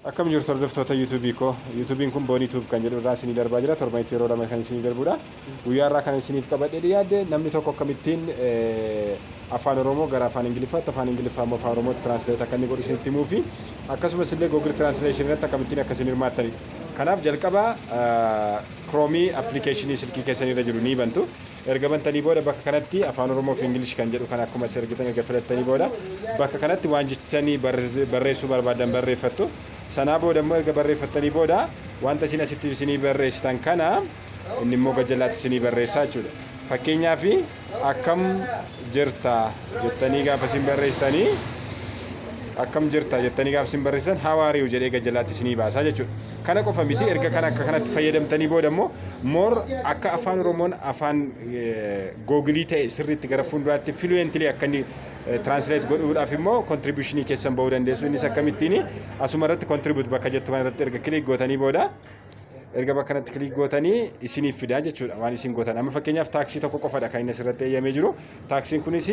Akkam jirtu hordoftoota YouTube koo. YouTube'n kun Boni Tube kan jedhu irraa isinii darbaa jira. Torbanitti yeroo lama kan isinii darbudha. Guyyaa irraa kan isiniif qabadhee dhiyaadde namni tokko akkamittiin afaan Oromoo gara afaan Ingiliffaatti, afaan Ingiliffaa immoo afaan Oromootti translate akka inni godhu isinitti himuu fi akkasumas illee Google Translation irratti akkamittiin akka isin hirmaattanidha. Kanaaf jalqaba Chrome application silkii keessan irra jiru ni bantu. Erga bantanii booda bakka kanatti Afaan Oromoo fi English kan jedhu kana akkuma asii argitan erga filattanii booda bakka kanatti waan jechanii barreessuu barbaaddan barreeffattu. Sanaa booda immoo erga barreeffattanii booda wanta isin asitti isinii barreessitan kana inni immoo gad jalaatti isinii barreessaa jechuudha. Fakkeenyaaf akkam jirta jettanii gaafa isin barreessitanii akkam jirta jettanii gaafa isin barreessitan how are you jedhee gad jalaatti isinii baasaa jechuudha. Kana qofa miti erga kana akka kanatti fayyadamtanii booda immoo more akka afaan oromoon afaan googilii ta'e sirriitti gara fuulduraatti fluently akka inni translate godhuudhaaf immoo contributionii keessan ba'uu dandeessu innis akkamittiin asuma irratti contribute bakka jettu kana irratti erga click gootanii booda erga bakka kanatti click gootanii isiniif fidaa jechuudha waan isin gootan amma fakkeenyaaf taaksii tokko qofadha kan inni asirratti eeyyamee jiru Taaksiin kunis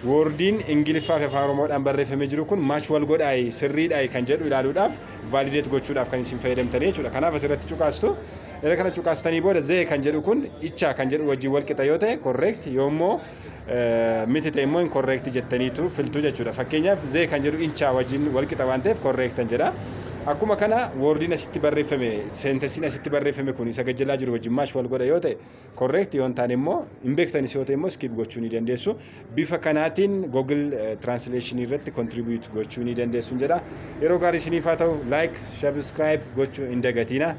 woordiin Ingiliffaa fi Afaan Oromoodhaan barreeffamee jiru kun match wal godhaayi, sirriidhaayi kan jedhu ilaaluudhaaf, validate gochuudhaaf kan isin fayyadamtanii jechuudha. Kanaaf asirratti cuqaastu. Erga kana cuqaastanii booda zee kan jedhu kun icha kan jedhu wajjin wal qixa yoo ta'e correct, yoo immoo miti ta'e immoo incorrect jettaniitu filtu jechuudha. Fakkeenyaaf zee kan jedhu incha wajjin wal qixa waan ta'eef correct an jedha. Akkuma kana woordiin asitti barreeffame, seentensiin asitti barreeffame kun isa gajjalaa jiru wajjin match wal godha yoo ta'e correct yoo hin taane immoo hin beektanis yoo ta'e immoo skip gochuu ni dandeessu. Bifa kanaatiin Google eh, Translation irratti contribute gochuu ni dandeessu jedha. Yeroo gaarii isiniif haa ta'u like, subscribe gochuu hin dagatiina.